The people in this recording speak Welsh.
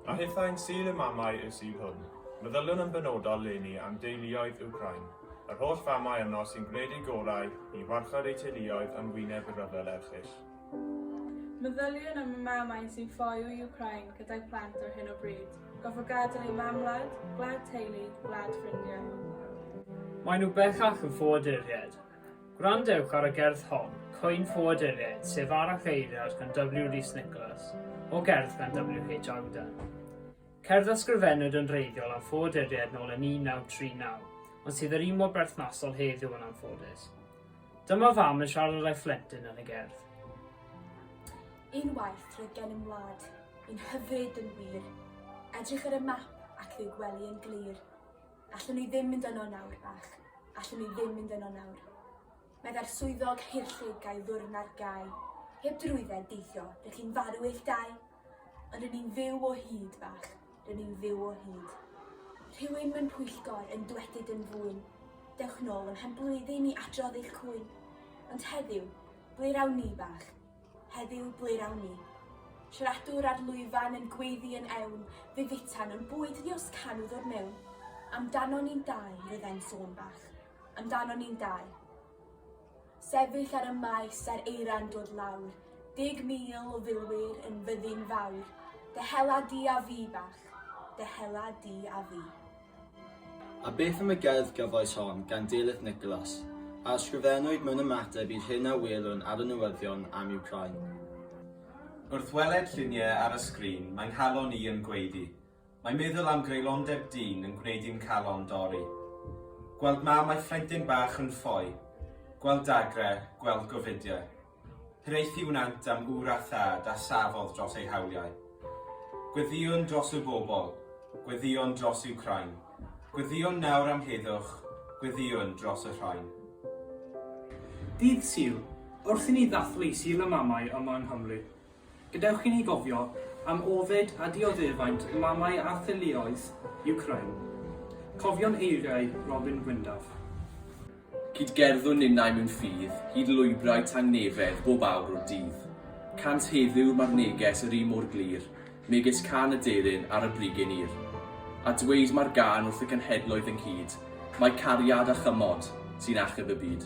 A hithau'n sul y mamau y sydd hwn. Meddyliwn yn benodol leni am deuluoedd Wcráin, yr holl famau yno sy'n gwneud eu gorau i warchod eu teuluoedd yn wyneb y rhyfel erchyll. Meddyliwn am y mamau sy'n ffoi o Wcráin gyda'u plant ar hyn o bryd, gofo gadael eu mam-wlad, gwlad teulu, gwlad ffrindiau. Maen nhw bellach yn ffoaduriaid, Gwrandewch ar y gerdd hon, Cwyn Ffoaduriaid, sef Arall Eiriad gan W. Rees Nicholas, o gerdd gan W. H. Auden. Cerdd a sgrifennwyd yn wreiddiol am ffoaduriaid nôl yn 1939, ond sydd yr un mor berthnasol heddiw yn anffodus. Dyma fam yn siarad â'i phlentyn yn y gerdd. Unwaith roedd gennym wlad, un hyfryd yn wir. Edrych ar y map ac ddi'w gwely yn glir. Allwn ni ddim mynd yno nawr, bach. Allwn ni ddim mynd yno nawr. Meddai'r swyddog hirllug ga'i ddwrn ar gau. Heb drwydded, deithio, rydych chi'n farw eich dau. Ond rydyn ni'n fyw o hyd, bach. Rydyn ni'n fyw o hyd. Rhywun mewn pwyllgor yn dwedyd yn fwyn. Dewch nôl ym mhenblwydd i ni adrodd eich cwyn. Ond heddiw, ble rawn ni, bach? Heddiw ble rawn ni? Siaradwr ar lwyfan yn gweiddi yn ewn, fe futan o'n bwyd ddios can o ddwr mewn. Amdano ni'n dau, roedd e'n sôn bach. Amdano ni'n dau. Sefyll ar y maes a'r eira'n dod lawr, deg mil o filwyr yn fyddin fawr, dy hela di a fi bach, dy hela di a fi. A beth am y gerdd gyfoes hon gan Delyth Nicholas, a ysgrifennwyd mewn ymateb i'r hyn a welwn ar y newyddion am Wcráin? Wrth weled lluniau ar y sgrin mae 'nghalon i yn gwaedu. Mae meddwl am greulondeb dyn yn gwneud i'm nghalon dorri. Gweld mam a'i phlentyn bach yn ffoi. Gweld dagrau, gweld gofidiau. Hiraethu wnant am ŵr a thad a safodd dros eu hawliau. Gweddïwn dros y bobl, gweddïwn dros Wcráin. Gweddïwn nawr am heddwch, gweddïwn dros y rhain. Dydd Sul, wrth i ni ddathlu Sul y Mamau yma yng Nghymru, Gadewch i ni gofio am ofid a dioddefaint mamau a theuluoedd Wcráin. Cofion eiriau Robin Gwyndaf. Cyd-gerddwn ninnau mewn ffydd hyd lwybrau tangnefedd bob awr o'r dydd. Cant heddiw mae'r neges yr un mor glir, megis can aderyn ar y brigyn ur. A dweud mae'r gân wrth y cenhedloedd ynghyd, mai cariad a chymod sy'n achub y byd.